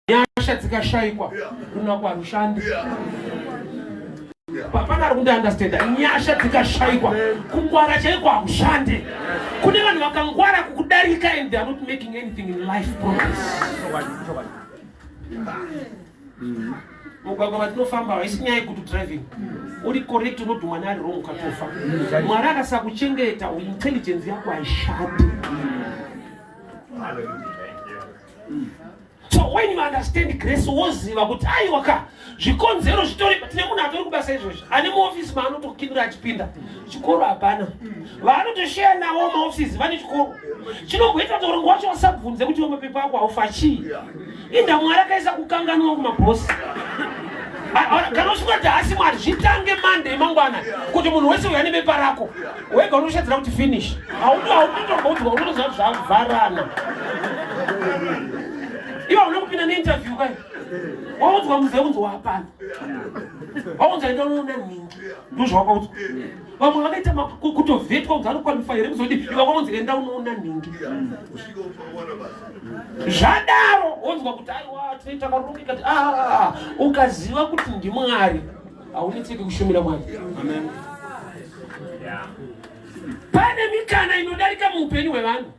nyasha dzikashaikwa kuna kwarushandi hapana ari kundiandastanda nyasha dzikashaikwa kungwara chaiko hakushande kune vanhu vakangwara kukudarika and they are not making anything in life progress mugwagwa vatinofamba haisi nyaya yekuti driving uri correct unoti mwana ari wrong ukatofa mwari akasakuchengeta intelligence yako haishati so when you understand grace woziva kuti aiwa ka zvikonzero zvitori tine munhu atori kubasa izvozvi ane maofisi maanotokindura achipinda chikoro hapana vaanotosheya navo maofisi vane chikoro chinongoita kuti urongo wacho wasabvunze kuti wemapepa ako haufa chii inda mwari akaisa kukanganwa kumabhosi kana usingati hasi mwari zvitange mande emangwana kuti munhu wese uya nebepa rako wega unoshedzera kuti finish hautomboudzwa unotoziva kuti zvavharana ivo hauna kupinda neinterview kai waudzwa muze unzi wapana waunza enda unoona nhingi ndozvawakaudzwa vamwe vakaita kutovhetwa unzi anokwanifa here kuzodi iva kwaunzi enda unoona nhingi zvadaro wonzwa kuti aiwa tinoita karongekati ah, ukaziva kuti ndimwari haunetseki kushumira mwari pane mikana inodarika muupenyu hwevanhu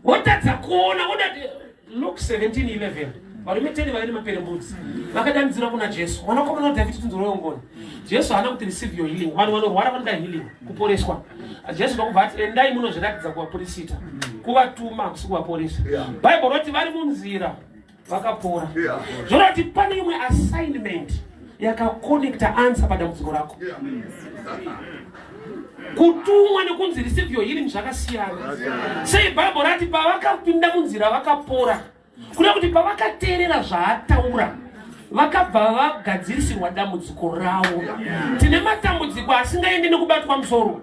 wotadza kuona woda luk 1711 varume teni vave nemaperembudzi vakadanidzira kuna jesu wanakomana wadhavhidi tinzoroyongona jesu haana kuti receive your healing vanhu vanorwara vanoda healing kuporeswa jesu ndokubva ati endai munozviratidza kuvapurisita kuvatuma kusi kuvaporesa bible roti vari munzira vakapora yeah. zvorati pane imwe assignment yakakonekta answer padambudziko rako yeah. kutumwa nekunzi receive your healing zvakasiyana sei bhaibho rati pavakapinda munzira vakapora kuda kuti pavakateerera zvaataura vakabva vagadzirisirwa dambudziko ravo tine matambudziko asingaende nekubatwa musoro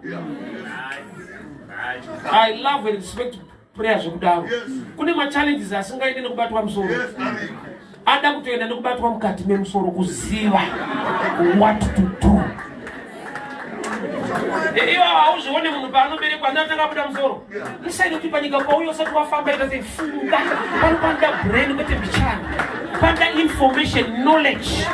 i love and respect prayer zvekudaro kune machallenges asingaende nekubatwa musoro ada kutoenda nekubatwa mukati memusoro kuziva what to do ivo hauzvione munhu paanoberekwa anatanga kuda musoro isaidi kuti panyika pauyo usati wafamba ita sei funga pano panoda brain kwete mbichana panoda information knowledge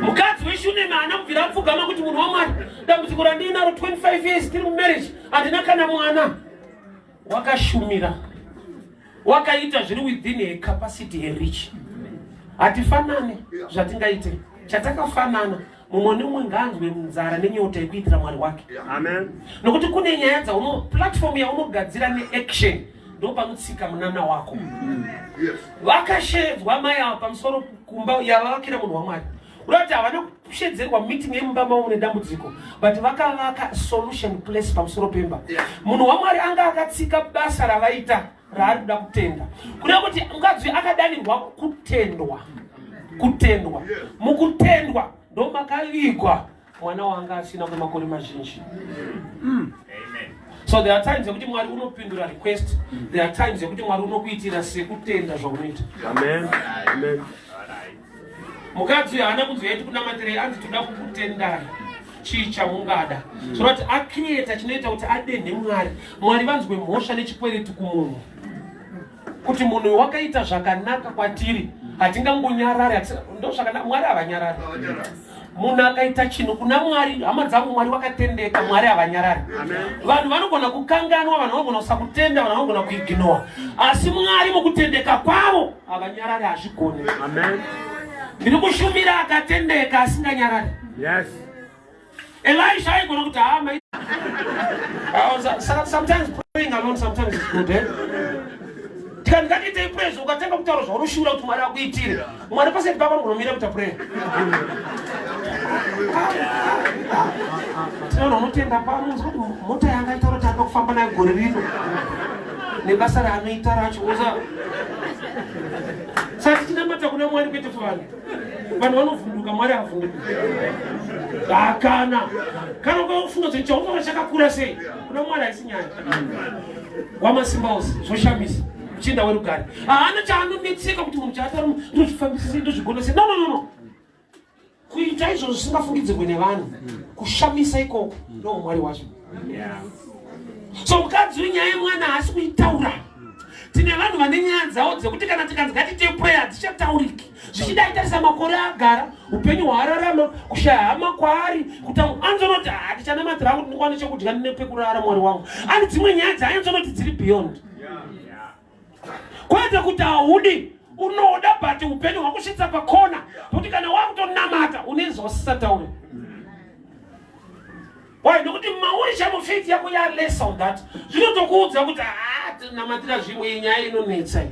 mukadzi weshunema haana kubvira apfugama kuti munhu wamwari dambudziko randiinaro 25 years tiri mumarriage handina kana mwana wakashumira wakaita zviri within her capacity her rich hatifanane zvatingaite chatakafanana mumwe nemumwe ngaanzwe nzara nenyota yekuitira mwari wake amen nokuti kune nyaya dzauno platform yaunogadzira neaction ndopanotsika munana wako mm. vakashedzwa mai ava pamusoro kumba yavavakira munhu wamwari urati havana kushedzerwa meeting yemumba mavo nedambudziko but vakavaka solution place pamusoro pemba munhu wamwari anga akatsika basa ravaita raari kuda kutenda kureva kuti mukadzi uyu akadanirwa kutendwa kutendwa mukutendwa ndomakavigwa mwana wanga asina kwemakore mazhinji mm. so there are times yekuti mwari unopindura request there are times yekuti mwari unokuitira sekutenda zvaunoita amen amen mukadzi uyo haana kunzwa yati kunamatirei anzi toda kukutendai chii chamungada zvona kuti acreata chinoita kuti adenhe mwari mwari vanzwe mhosva nechikwereti kumunhu kuti munhu uyu wakaita zvakanaka kwatiri hatingangonyarari ndo zvakanaka mwari havanyarari munhu akaita chinhu kuna mwari hama dzangu mwari wakatendeka mwari havanyarari vanhu vanogona kukanganwa vanhu vanogona kusakutenda vanhu vanogona kuiginowa asi mwari mukutendeka kwavo havanyarari hazvigone ndiri kushumira akatendeka asinganyarari elisha aigona kuti hama tikandikatiitei purezi ukatanga kutaura zvaurushuura kuti mwari akuitire Mwana paside pako unomira kuita prayer. Tinoona unotenda pamunzi kuti mota yanga itaura kuti anga kufamba nayo gore rino. Nebasa raanoita racho uza. Saka tinamata kuna Mwari kwete vanhu. Vanhu vanovhunduka Mwari havhunduki. Hakana. Kana ukafunga kuti chaunoona chakakura sei? Kuna Mwari haisi nyaya. Wamasimba ose zvoshamisa. Chinda werugare haana chaanonetseka kuti munhu chaatari ndozvifambisise ndozvigonese no no no no kuita izvo zvisingafungidzirwe nevanhu kushamisa ikoko ndoo mwari wacho so mukadzi wenyaya yemwana haasi kuitaura tine vanhu vane nyaya dzavo dzekuti kana tikanzi ngatiite prayer hadzichatauriki zvichida itarisa makore agara upenyu hwaararama kushaya hama kwaari kuti anzonoti handichanamatirako ndikwane chekudya nepekurara mwari wangu ani dzimwe nyaya dzaanzonoti dziri beyond kwete kuti haudi unoda but upenyu hwakusvitsa pakona kuti kana wakutonamata unezvawasisataure why nokuti mauri chamufiti yako yaless on that zvinotokuudza kuti haa ah, namatira zvimwe nyaya inonetsa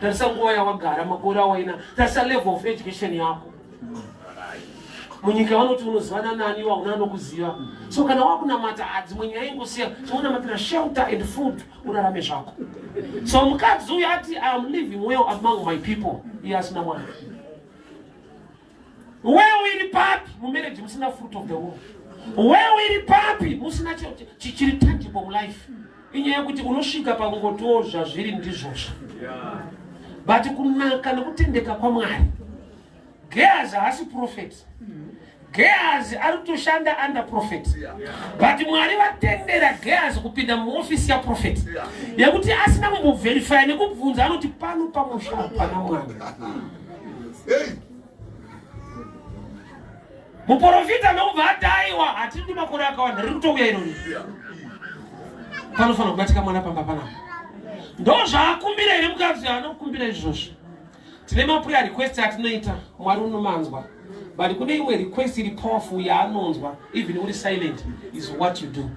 tarisa nguva yawagara makore awaina tarisa level of education yako munyika vanoti unozivana nani iwa una anokuziva so kana wakunamata adzimwe nyaya ingosiya chaunamatira shelter and food urarame zvako so mukadzi uyo ati iam living well among my people iye asina mwana Wewe iri papi mumarriage musina fruit of the womb? Wewe iri papi musina chichiri tangible mulife? Inyaya yekuti unosvika pakungotiwo zvazviri ndizvozvo. But kunaka nekutendeka kwaMwari. Gehazi haasi prophet. Gehazi ari kutoshanda under prophet. But Mwari vatendera Gehazi kupinda muofisi yaprofet yekuti asina kumbovherifya nekubvunza anoti pano pamusha hapana mwana. hey. muporofita nokubva adaiwa hatindi makore akawanda riri kutouya irori panofanira kubatika mwana pamba panapa ndo zvaakumbira here mukadzi anokumbira izvozvo tine mapuya request atinoita mwari unomanzwa but kune imwe request iri powerful yaanonzwa even uri silent is what you do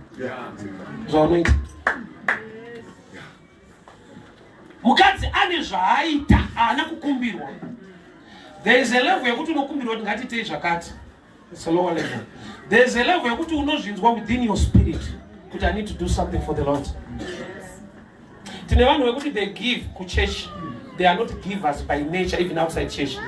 zvaunoita yeah. mukadzi ane zvaaita haana kukumbirwa there is a level yekuti unokumbirwa kuti ngatiitei zvakati it's a lower level there is a level yekuti unozvinzwa within your spirit kuti i need to do something for the lord tine vanhu vekuti they give kuchurch they are not givers by nature even outside church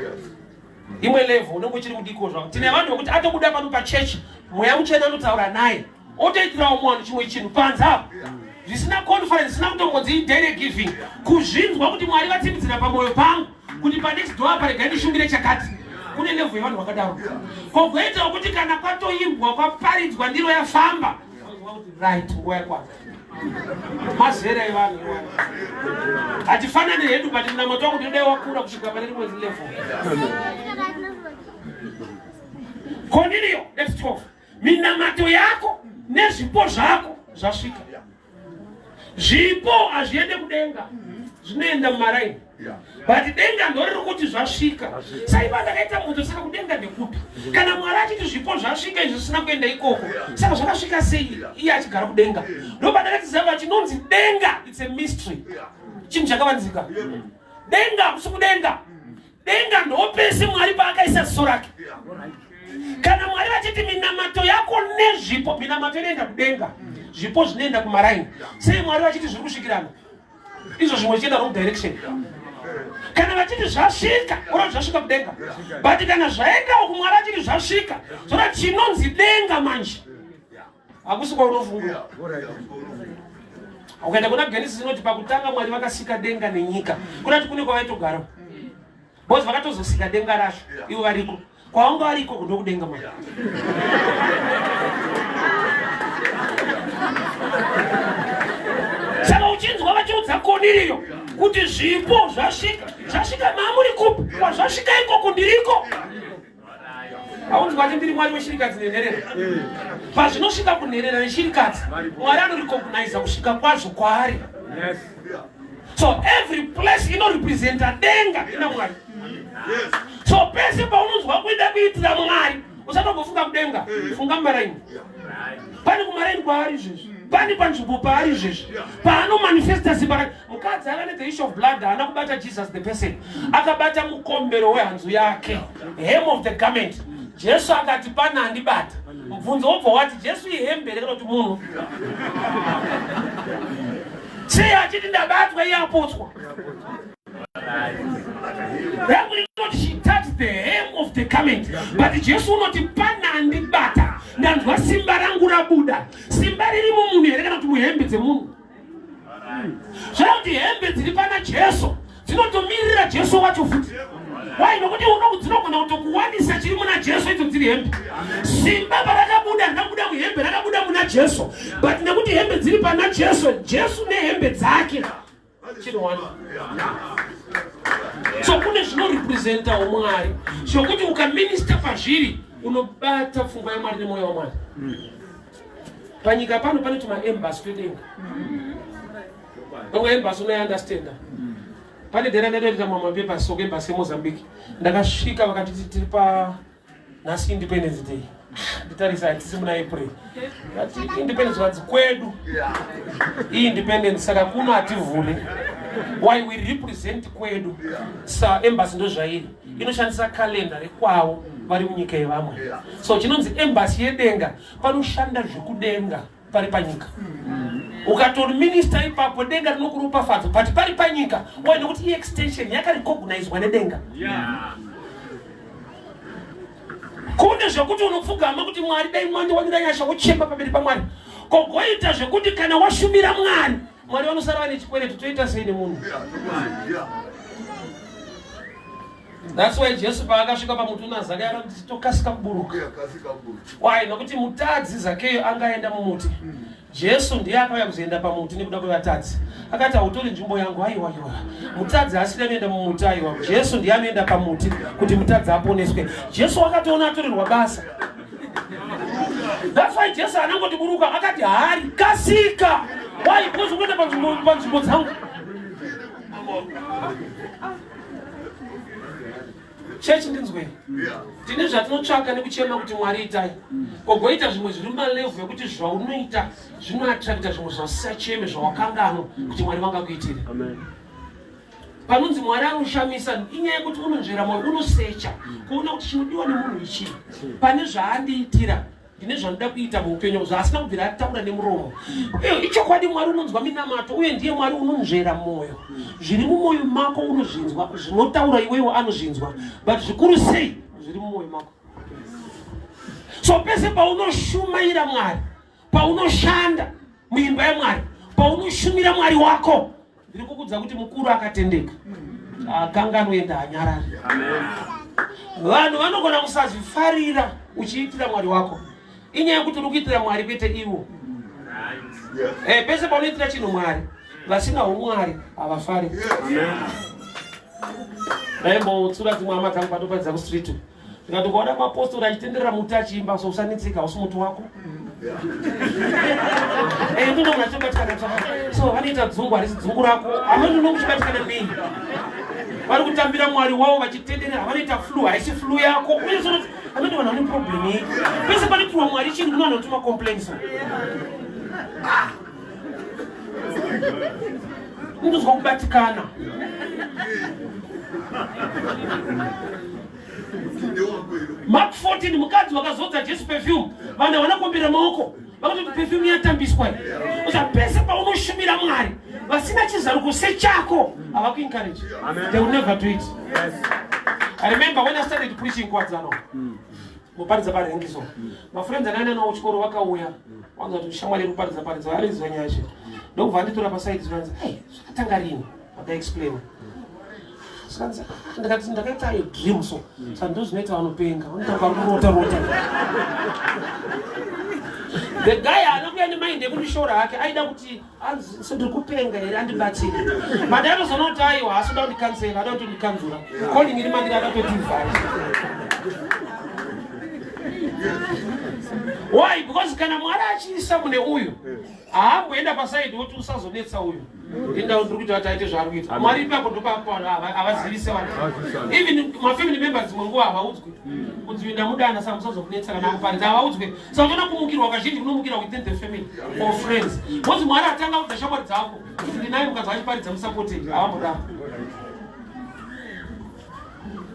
imwe level unenge uchiri mudiko zvavo tine vanhu vekuti atobuda pano pachurch mweya muchena anotaura naye otoitirawo mumwe vanhu chimwe chinhu panze apo zvisina conference zvisina kutongonzi daily giving kuzvinzwa kuti mwari vatsimbidzira pamwoyo pangu kuti panext door apa regai ndishungire chakati kune levo yevanhu vakadaro kogoitawo kuti kana kwatoimbwa kwaparidzwa ndiro yafamba right nguva yakwana mazera evanhu hatifanani hedu but mnamato wangu ndinodai wakura kusvika pane rimwe levo koniriyo let's talk minamato yako nezvipo zvako zvasvika zvipo hazviende kudenga zvinoenda mumaraini but denga ndoriri kuti zvasvika saiva ndakaita moto saka kudenga ndekupi kana mwari achiti zvipo zvasvika izvi zvisina kuenda ikoko saka zvakasvika sei iye achigara kudenga ndobandakatizava chinonzi denga its a mystery chinhu chakavanzika denga kusi kudenga denga ndopese mwari paakaisa ziso rake kana mwari vachiti minamato yako nezvipo minamato inoenda kudenga zvipo zvinoenda kumaraini sei mwari vachiti zviri kusvikirana izvo zvimwe zvichienda wrong direction kana vachiti zvasvika ora zvasvika kudenga but kana zvaendawo kumwari achiti zvasvika zvoda chinonzi denga manje hakusi kwaunofunga ukaenda kuna genesis inoti pakutanga mwari vakasika denga nenyika kunati kune kwavaitogara bcause vakatozosika denga racho ivo variko kwavanga variko kudo kudenga mwari saka uchinzwa vachiudza koniriyo kuti zvipo zvasvika zvasvika mamuri kupi kwazvasvika ikoko ndiriko aunzi kwati ndiri mwari weshirikadzi nenherera eh. pazvinosvika kunherera neshirikadzi mwari anorecognaiza kusvika kwazvo kwaari so every place inorepresenta denga ina mwari so pese paunonzwa kuida kuitira mwari usatombofunga kudenga eh. funga mumaraini pane kumaraini kwaari izvezvi pane panzvimbo paari izvezvi paanomanifesta zimba rake mukadzi anga ne the issue of blood haana kubata jesus the person akabata mukombero wehanzu yake hem of the garment jesu akati pana handibata mubvunzo wobva wati jesu ihembe here kana kuti munhu sei achiti ndabatwa iye apotswa but jesu unoti pana handibata ndanzwa simba rangu rabuda simba riri mumunhu here kana kuti muhembe dzemunhu Zvekuti hembe dziri pana Jesu dzinotomirira Jesu wacho futi. Why? Nokuti unoku dzinogona kutokuwanisa chiri muna Jesu idzo dziri hembe. Simba parakabuda rakabuda muhembe rakabuda muna Jesu. But nekuti hembe dziri pana Jesu, Jesu nehembe dzake. Chinowana. So kune zvinorepresenta umwari zvokuti ukaminista pazviri unobata pfungwa yamwari nemwoyo wamwari. panyika pano pane tumaembas twedenga onge embas unoyandastenda pane dera ndaitoita mamwe mapepa so kuembas yemozambique ndakasvika vakatiti tiri pa nhasi independence day nditarisa hatisi muna april ati independence vanzi kwedu iyi independence saka kuno hativhule why we represent kwedu sa embas ndozvairi inoshandisa kalenda rekwavo vari munyika yevamwe so chinonzi embasi yedenga panoshanda zvekudenga pari panyika ukatori minista ipapo denga rinokuropafadza but pari panyika wa nekuti iextension yakarecognizwa nedenga kune zvekuti unopfugama kuti mwari dai mwandiwanira nyasha wochemba pamberi pamwari kogoita zvekuti kana washumira mwari Mwari vanosara vane chikwereti toita sei nemunhu? That's why Jesu paakasvika pamuti una Zakeyo anoti tokasika kuburuka. Why? Nokuti mutadzi Zakeyo anga aenda mumuti. Mm. Jesu ndiye akauya kuzoenda pamuti nekuda kwevatadzi. Akati hautori nzvimbo yangu haiwa iwa. Mutadzi haasiri anoenda mumuti haiwa. Jesu ndiye anoenda pamuti kuti mutadzi aponeswe. Jesu wakatoona atorerwa basa. That's why Jesu anangoti buruka akati hari kasika. Why? Because ukwenda panzvimbo panzvimbo dzangu. Church ndinzwe. Tine zvatinotsvaka nekuchema kuti Mwari itai. Kogoita zvimwe zviri malevu yekuti zvaunoita zvinoattracta zvimwe zvasacheme zvawakanganwa kuti Mwari vangakuitire. Amen. panonzi mwari anoshamisa inyaya yekuti unonzvera mwoyo unosecha kuona kuti chinodiwa nemunhu ichii pane zvaandiitira ndine zvanoda kuita muupenyu zvaasina kubvira ataura nemuromo ichokwadi mwari unonzwa minamato uye ndiye mwari unonzvera mwoyo zviri mumwoyo mako unozvinzwa zvinotaura iwewo anozvinzwa but zvikuru sei zviri mumwoyo mako so pese paunoshumaira mwari paunoshanda muimba yamwari paunoshumira mwari wako Ndiri kukudza kuti mukuru akatendeka akanganoenda anyarari. Vanhu vanogona kusazvifarira uchiitira mwari wako inyaya yekuti uri kuitira mwari kwete ivo. Eh, pese paunoitira chinhu mwari vasina umwari havafari. Ndaimbotsura dzimwe hama dzangu patoparidza kustreet. Tikati ukaona mapostori achitenderera muti achiimba so usanetseka usi muti wako. Eh ndino munachobatikana tsaka. So vanoita dzungu harisi dzungu rako. Amweni unokuchibatikana nei? Vari kutambira mwari wavo vachitenderera vanoita flu haisi flu yako. Uye so amweni vanhu vane problem iyi. Pese panotirwa mwari chinhu kuno vanotuma complaints. ndinzwa kubatikana mark 14 mukadzi wakazodza jesu perfume vanhu havana kuombera maoko vakatoti perfume yatambiswa usa pese paunoshumira mwari vasina chizaruko sechako havakuencourage they will never do it yes. i remember when i started preaching kwadzano mm. Muparidza parengi so. Mafriends akaenda nawo kuchikoro vakauya. Wanza kuti shamwari iri kuparidza paridza ari izwa nyaya zve. Ndokubva anditora paside zvanzi, "Hey, zvakatanga rini?" Aka explain. Sanza, ndakati ndakaita a dream so. Saka ndozvinoita vanopenga. Vanotanga kurota rota. The guy anokuya nemind yekundishora hake aida kuti hanzi so ndiri kupenga here andibatire madai anozoona kuti aiwa haasi kuda kundikansela ada kuti ndikanzura calling iri mandiri ada kutoti vhai why because kana mwari achiisa mune uyu haamboenda pasaidi woti usazonetsa uyu indawo ndiri kuti vataite zvaari kuita mwari ipapo ndopaavazivise vanhu even mafamily members mwe nguva havaudzwe kudzivinda mudana samusazovunetsa kana muparidza havaudzwe Saka kumukirwa kazhinji kunomukira within the family or friends. Mose Mwari atanga kubva shamwari dzako. Kuti ndinaye mukadzi achiparidza musapote haamboda.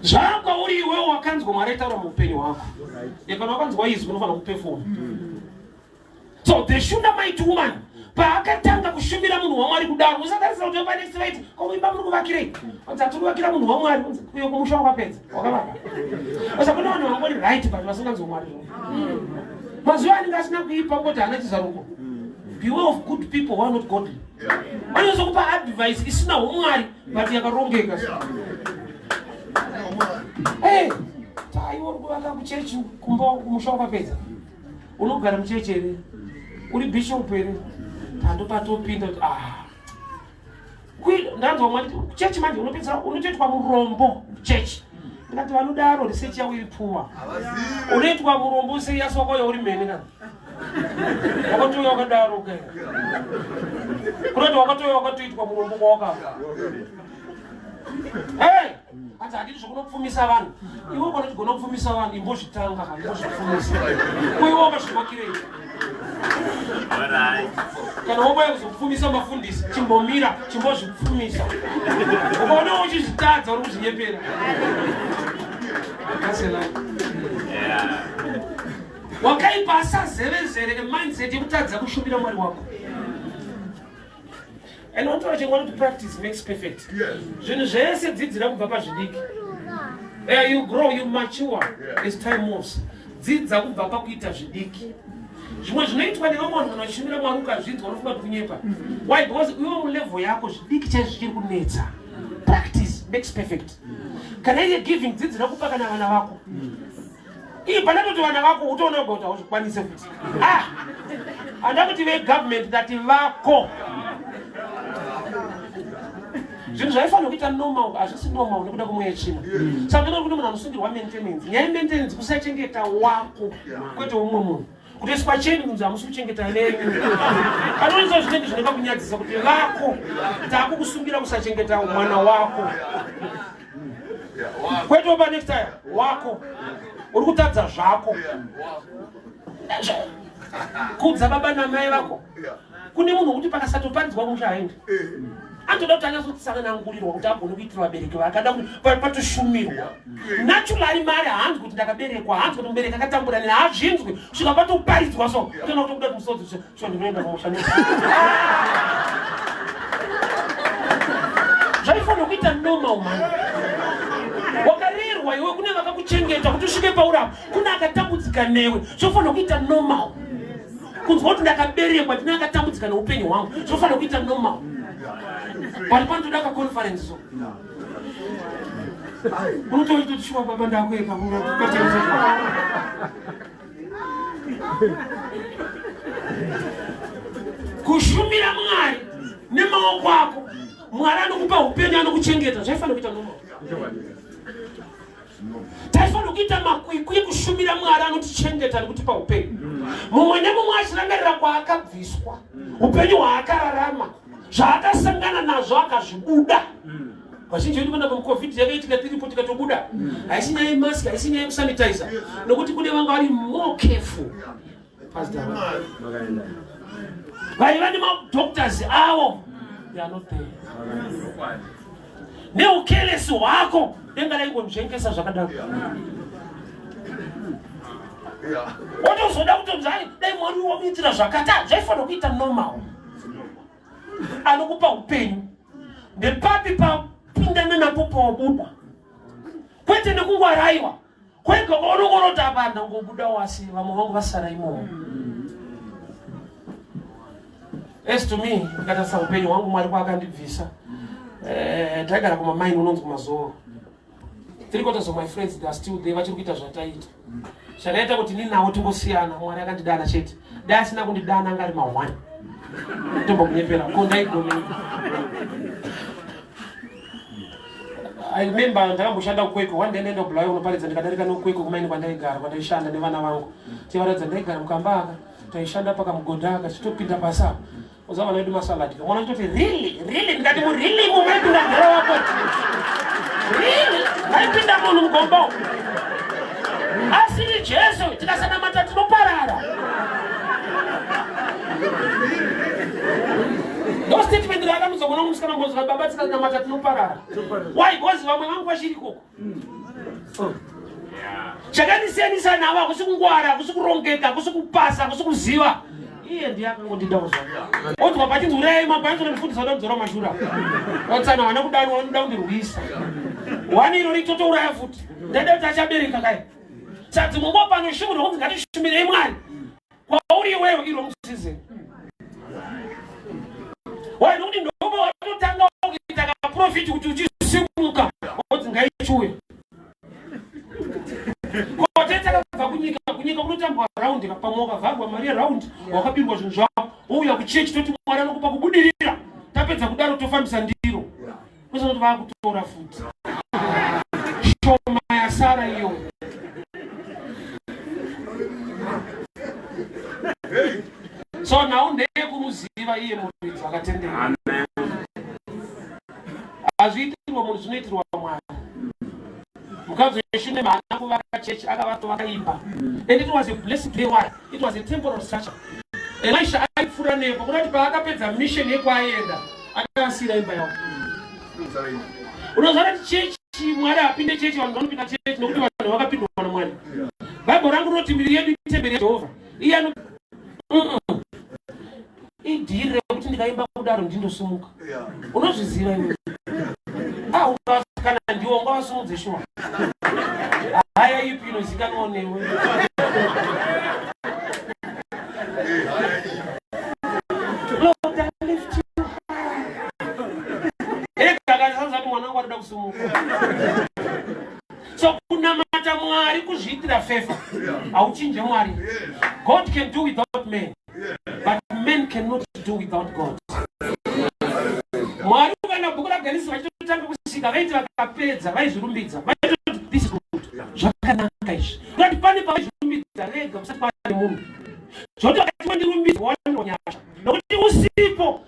Zvakwa uri iwe wakanzwa Mwari taura muupenyu hwako. Yekana wakanzwa izwi unofanira kuperform. So the shunda might woman paakatanga kushumira munhu wamwari kudaro musatarisira kuti vanesi vaiti komuimba muri kuvakirei anzi atiri kuvakira munhu wamwari uyo kumusha wakapedza wakavaka asa kune vanhu vangori right but vasinganzi wamwari mazuva anenge asina kuipa ngoti hana chizaruko beware of good people who are not godly vanonyaso kupa advice isina umwari but yakarongeka hey taiwo uri kuvaka kuchechi kumba kumusha wakapedza unogara muchechi here uri bishop here pando patopinda kuti ah ndanzwa mwari chechi manje unopedzera unotoitwa murombo chechi ndikati vanodaro research yavo iri pfuwa unoitwa murombo serious wako yauri mhene kana wakatouya wakadaro ke kunoti wakatouya wakatoitwa murombo kwawakava hey hanzi handiti zvokunopfumisa vanhu ivo kana tigona kupfumisa vanhu imbozvitanga kana imbozvipfumisa kuiwomba zvimakirei kana wobaya kuzopfumisa mafundisi chimbomira chimbozvipfumisa ukaona uchizvitadza uri kuzvinyepera wakaipa asazevezere emindset yekutadza kushumira mwari wako and wataura chingwa kuti practice makes perfect zvinhu zvese dzidzira kubva pazvidiki uh, you grow you mature as time moves dzidza kubva pakuita zvidiki zvimwe zvinoitwa nevamwe vanhu vanochimira mwari ukazvinzwa unofunga kuti kunyepa why because iwe mulevel yako zvidiki chaizvo zvichiri kunetsa practice makes perfect kana iye giving dzidzira kupa kana vana vako Ii pandatoti vana vako utoona uga kuti hauzvikwanise futi. Ah! Handa kuti vegovernment ndati vako. zvinhu zvaifanira kuita normal hazvisi normal nekuda kwemweya yetsvina saka kuti munhu anosungirwa maintenance nyaya yemaintenance kusachengeta wako kwete umwe munhu kuti isu pacheni kunzi hamusi kuchengeta venyu panoizvo zvinenge zvinoda kunyadzisa kuti vako takukusungira kusachengeta mwana wako kwete oba next time wako uri kutadza zvako kudza baba namai vako kune munhu wekuti pakasatoparidzwa musha haendi anotoda kuti anyatsotsananangurirwa kuti agone kuitira vabereki vakada kuti patoshumirwa naturali mari hanzi kuti ndakaberekwa hanzi kuti mubereki akatambura nina hazvinzwi svika patoparidzwa so kana kutobuda kuti musodzi so ndinoenda pamusha zvaifanira kuita normal mani wakarerwa iwe kune vakakuchengeta kuti usvike paurapa kune akatambudzika newe zvofanira kuita normal kunzwa kuti ndakaberekwa ndine akatambudzika neupenyu hwangu zvofanira kuita normal pari pano toda kaconference so unotoita kuti shuwa baba ndakueka kushumira mwari nemaoko ako mwari anokupa upenyu anokuchengeta zvaifanira kuita normal taifanira kuita makwikwi ekushumira mwari anotichengeta nekutipa upenyu mumwe nemumwe achirangarira kwaakabviswa upenyu hwaakararama zvaakasangana nazvo akazvibuda vazhinji vedu vana covid yakaitika tiripo tikatobuda haisi nyaya yemask haisi nyaya yekusanitizer nokuti kune vanga vari more careful vaiva nemadoctors avo neukelesi hwako denga raingonzvengesa zvakadaro wotozoda kutonzai dai mwari wamuitira zvakata zvaifanira kuita normal anokupa upenyu ndepapi papindana napo pawabuda kwete nekungwaraiwa kwega kwaunongonoti apa ndangobuda wasi vamwe vangu vasara imomo as to me ndikatarisa upenyu hwangu mwari kwaakandibvisa eh, taigara kumamaini unonzi kumazoro three quarters of my friends they are still there vachiri kuita zvataita zvakaita kuti ni nawo tingosiyana mwari akandidana chete dai asina kundidana anga ari mahwani tombokunyepera ko ndaigomeika I remember ndakamboshanda kukwekwe one day ndaenda kubulawayo kunoparidza ndikadarika nokukwekwe kumaini kwandaigara kwandaishanda nevana vangu tivaratidza ndaigara mukamba aka taishanda pakamugodha aka tichitopinda pasi apa uza vana vedu masaladi kamwana chitoti really really ndikati mu really mu maipinda mhera wako really maipinda munhu mugomba asiri jesu tikasanamata tinoparara no statement raakamuza kuna musikana mbozi vati baba tisanamata tinoparara why bcoz vamwe vangu vachiri koko chakandisiyanisa navo hakusi kungwara hakusi kurongeka hakusi kupasa hakusi kuziva iye ndiye akangondida kuzvaa odzwa pati urai mabhanzi nondifundisa kuda kudzora mashura otsana wana kudani wanoda kundirwisa wani iro ritotouraya futi ndaida kuti achabereka kai sadzi mungo pano shumu rokunzi ngatishumire imwari kwauri iweyo iro musize wani kuti ndobo watotanga kuita kaprofiti kuti uchisimuka odzi ngaichuya kotete akabva kunyika kunyika kunotambwa raundi pamwe wakavharwa mari yeraundi wakabirwa zvinhu zvavo wouya kuchechi toti mwari anokupa kubudirira tapedza kudaro tofambisa ndiro kwese kuti vakutora futi shoma yasara iyo so nhau ndeyekumuziva iye muridzi akatendera hazviitirwa munhu zvinoitirwa mwari mukadzi weshunem haana kuvaka chechi akavato vakaimba and it was a blessed day one it was a temporal structure elisha aipfuura nepo kuda kuti paakapedza mission yekwaaienda akasiira imba yavo unoziva kuti chechi mwari apinde chechi vanhu vanopinda chechi nokuti vanhu vakapindwa na mwari bhaibheri rangu rinoti miri yedu itemberi yejehovha iye idhiri rekuti ndikaimba kudaro ndindosumuka unozviziva iwe aukakana ah, ndiwo ngavasumudze shuwa haya ipi inozikanwa newe so kunamata mwari kuzviitira fefa hauchinje mwari god can do without men but men cannot do without god mwari ukaenda bhuku raganisi vachitotanga kusika vaiti vakapedza vaizvirumbidza vaitoti this is good zvakanaka izvi kuti pane pavaizvirumbidza rega kusati kwaane munhu zvoti vakati wandirumbidza wanonyasha nokuti usipo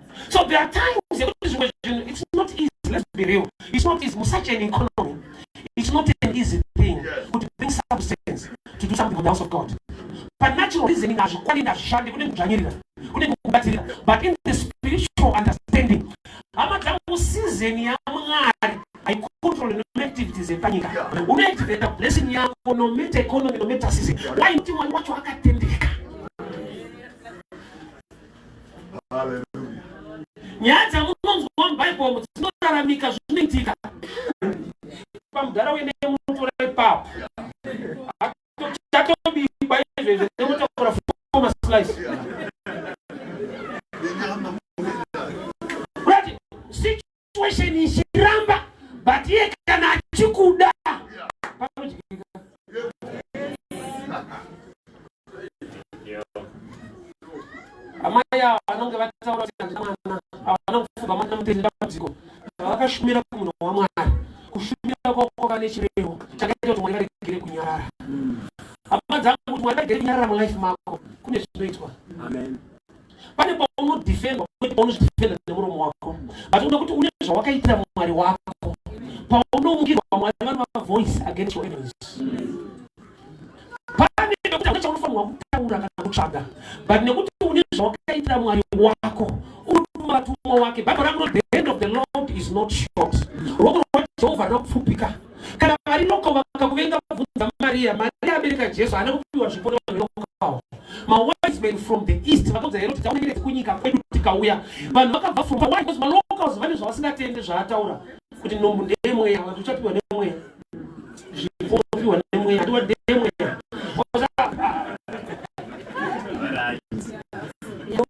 so there are times yekuti zvimwe zvinhu it's not easy let's be real it's not easy musuch an economy it's not an easy thing kuti bring substance to do something for the house of god but natural reasoning hazvikwani ndazvishandi kune kudzvanyirira kune kubatirira but in the spiritual understanding hama dzangu season yamwari haicontrol nomaactivities epanyika unoactivata blessing yako nometa economy nometa season why kuti mwari wacho akatendeka nyaya dzamunonzwa mubhaibhomu dzinoraramika zvinoitika pamudhara wene munotora ipapo chatobikwa izvezvo nemotakura foma slice situation ichiramba but iye kana achikuda amai ava vanonge vataura kuti handina mwana ava vanofunga mwana mutende dambudziko vakashumira kumunhu wamwari kushumira kwako vane chirevo chakaita kuti mwari varegere kunyarara hama dzangu kuti mwari varegere kunyarara mulife mako kune zvinoitwa amen pane paunodhifendwa kwete paunozvidhifenda nemuromo wako but uda kuti une zvawakaitira mwari wako paunomukirwa mwari vanova voice against your enemies pane pekuti hapana chaunofanirwa kutaura kana kutsvaga but nekuti une zvawakaitira mwari wako unotuma vatumwa wake bible rakunoti the hand of the lord is not short ruoko rwajehovha rinopfupika Kana vari noko vakakuvenga bvunza Maria. Maria abereka Jesu haana kupiwa zvipo nevanokawo. Mawise men from the east vakaudza here kuti taunengere dzekunyika kwedu tikauya. Vanhu vakabva from why because malocals vane zvavasingatende zvaataura kuti nombu ndeyemweya vanhu uchapiwa nemweya. Zvipo unopiwa nemweya hatiwa ndeyemweya.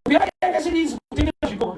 Uya yanga chiri izwi kutengera zvipo.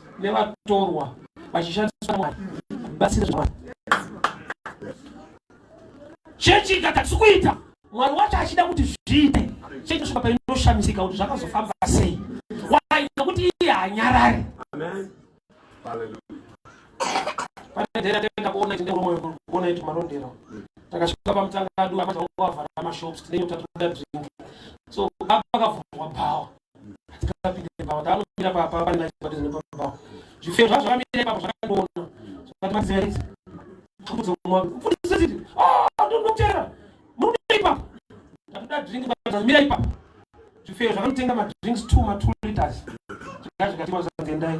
nevatorwa vachishandisa mwari batsira zvavana chechi ikatadzi kuita mwari wacho achida kuti zviite chechi svika painoshamisika kuti zvakazofamba sei wai nokuti iye hanyarari panederatenda kuona tine umoyo kuona iti marondera takasvika pamutanga adu amati vanga vavhara mashops tine nyota toda drink so baba vakavhurwa bhawa taanopinda papa panenge achibatiza nepapa zvifeyo zvacho zvamire papa zvakandiona zvakati maziva idzi mudzi womwa mfundisi ziti ndokutera muripa ndatoda drink batiza mira ipa zvifeyo zvakanotenga madrinks two ma two liters zvikaa zvikatima zvangendai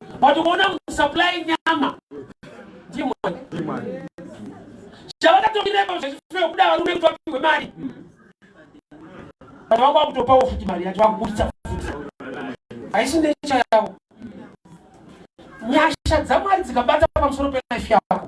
but ukaona kusupply nyama ndimwani chavakatongirepo zvechifeo kuda varume kuti vapihwe mari but vanga vakutopawo futi mari yacho vakuburitsa futi haisi necha yavo nyasha dzamwari dzikabata pamusoro pelife yako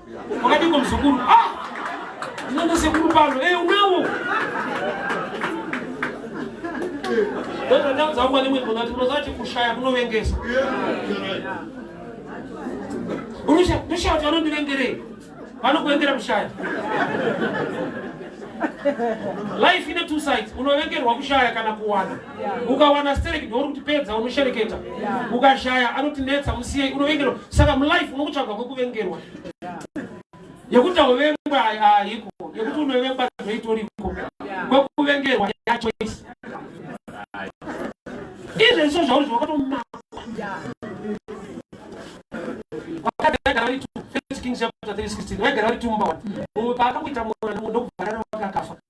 Wakadiko mzukuru. Ah! Unaenda sekuru pano. Eh, unawo. Ndoto ndau dzangu ane mwendo ngati unozati kushaya kunovengesa. Unosha, ndoshaya kuti vanondivengerei. Vanokuengera kushaya. Life ine two sides. Unovengerwa kushaya kana kuwana. ukawana stereki ndouri kuti pedza unoshereketa ukashaya anoti netsa musiyei unovengerwa saka mulife unokutsvaga kwekuvengerwa yekuti auvengwa haiko yekuti unovengwa zvoitoriko kwekuvengerwa yachoisi izvezvo zvauri zvakatomaa vaigara vari tumba paakakuita mwana ndokubvarara wakakafa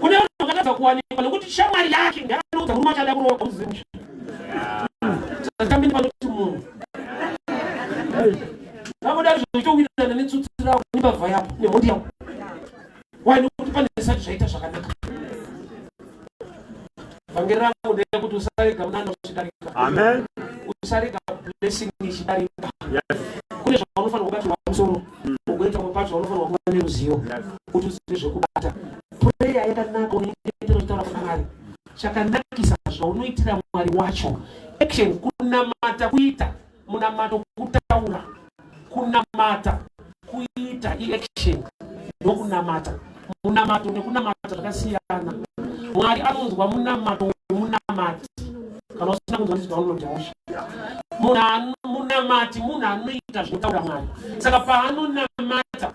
kune vanhu vakatadza kuwanikwa nokuti shamwari yake ngaaudza murume achada kuroora uzimusha zvatambini vanoti munhu vakodari zvochitowirana netsutsi ravo nembavha yavo nemhondi yavo wai nokuti pane zvisati zvaita zvakanaka vhangeri rangu ndeyekuti usarega munana uchidarika amen usarega blessing ichidarika kune zvaunofanira kubatirwa musoro mm. ugoita pamwe pacho vaunofanirwa kuva neruzivo kuti uzive zvekubata pureya yakanaka unyengetero uchitaura kuna mwari chakanakisa zvaunoitira mwari wacho action kunamata kuita munamato kutaura kunamata kuita iaction ndokunamata munamato nekunamata zvakasiyana mwari anonzwa munamato wemunamati kana usina kunzwa ndizwa unondiosha munamati munhu anoita zvinotaura mwari saka paanonamata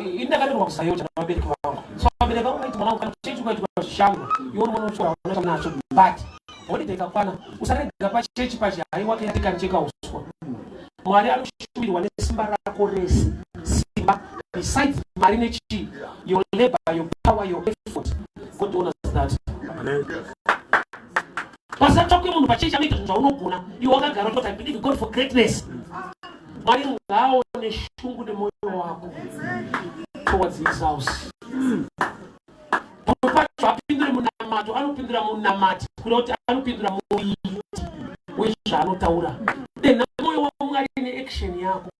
ini ndakandirwa kusayocha navabereki vangu so vabereki vangu vaiti mwana kana chii chikuitika zvishango iwo mwana uchiwa unoita nacho but holiday ikakwana usarega pachechi pachi hai wake yatikancheka uswa mwari anoshuviriwa nesimba rako rese simba besides mari nechii your labor your power your effort god honors that Amen. Pasina kutsvakwe munhu pachii chanoita zvinhu zvaunogona iwe wakagara utoti i believe god for greatness mwari ngaaone shungu nemoyo wako towards his house pamwe pacho apindure munamato anopindura munamati kuda kuti anopindura muiti wezvaanotaura denha moyo wamwari neaction yako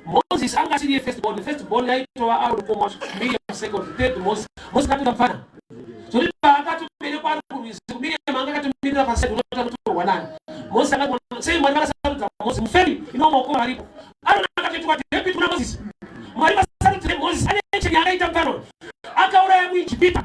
Moses anga asiri first born, first born yaitova ari mukoma Miriam second, third Moses. Moses akatoda mfana. Zvoti paakatoberekwa ari kurwizi, Miriam anga akatomirira paside unoita kuti torwa nani. Moses akati sei Mwari vakasarudza Moses muferi ino maoko varipo. Aroni akati kuti David kuna Moses. Mwari vakasarudza Moses ane chiri akaita mfana. Akauraya muIjipita.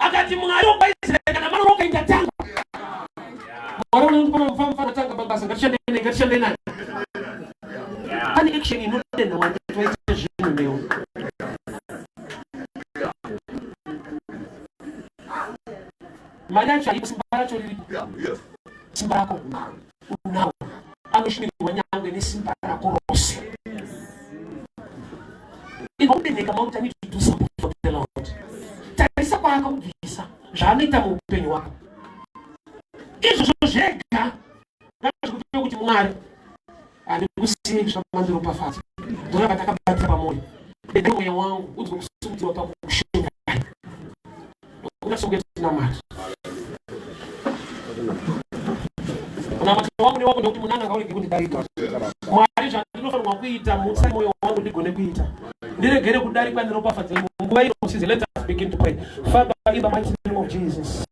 akati mwari wokwaisraeri kana mwana wakaita tanga mwari unondipa mufambi fana tanga mabasa ngatishande naye ngatishande naye pane action inodenha mwari toita zvinhu newe mari yacho haipo simba racho riripo simba rako unawo anoshumikirwa nyangwe nesimba rako rose inobeneka mauta nititusaotelot tarisa kwaakakubvisa zvaanoita muupenyu wako izvozvo zvega ngazvikupe kuti mwari ane kusimi zvamandiropafadza ndorava ndakabatira pamwoyo mweya wangu udzwe kusimudzirwa pakushunga Unasonge tinamata. Unamata wangu ni wako ndokuti munanga kauri kikuti darika. Mwari zvandinofanirwa kuita mutsa moyo wangu ndigone kuita. Ndiregere kudarikwa neropafadzo yenyu. Nguva ino size let us begin to pray. Father in the mighty name of Jesus.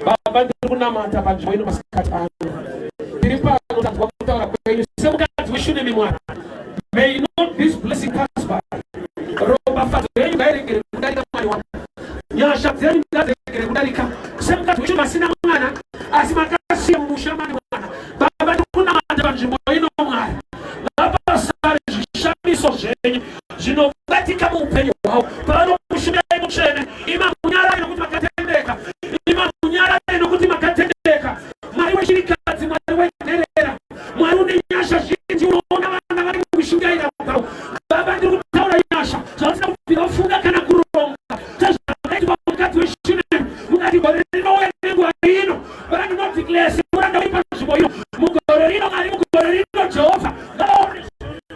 Baba ndiri kunamata panzvimbo ino masikati ano. Tiri pano tanzwa kutaura kwenyu semukadzi weshunemi mwana. May not this blessing pass by. Ropafadzo yenyu ngairegere kudarika mwari wangu. nyasha dzenyu ngadzegere kudarika semukadzi wedu masina mwana asi makasiya mumusha mane mwana baba tikunamata panzvimbo ino mwari vapasare zvishamiso zvenyu zvinobatika muupenyu hwavo pavanokushumirai mutsvene imamunyara inokuti makatendeka imamunyara inokuti makatendeka mwari wechirikadzi mwari wenherera Mwari une nyasha zhinji, unoona vana vari mukushingaira kwavo. Baba, ndiri kutaura nyasha zvavasina kubvira vafunga kana kuronga sezvakaitwa mukadzi weshunemi mukati gore rinouya nenguva ino. Baba, ndinodhiklesi muranda wei panzvimbo ino mugore rino, Mwari, mugore rino, Jehovha, ngavaone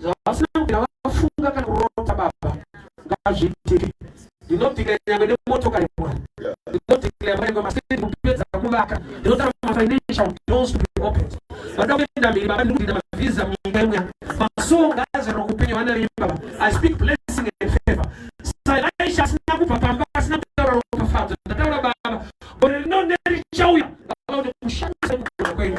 zvavasina kupinda vafunga kana kurota baba ngazviitike ndinodhikira nyangwe nemotokari mwari ndinodhikira nyangwe masiti kupedza kuvaka ndinotara mafinancial doors to be opened vanoda kuenda mberi baba ndikudida mavhiza munyika imwe yangu masowo ngaazarira kupenyu vana venyu baba i speak blessing and favor sailaisha asina kubva pamba asina kutaura ropafadzo ndataura baba gore rino nerichauya baba kuti kushandisa kugona kwenyu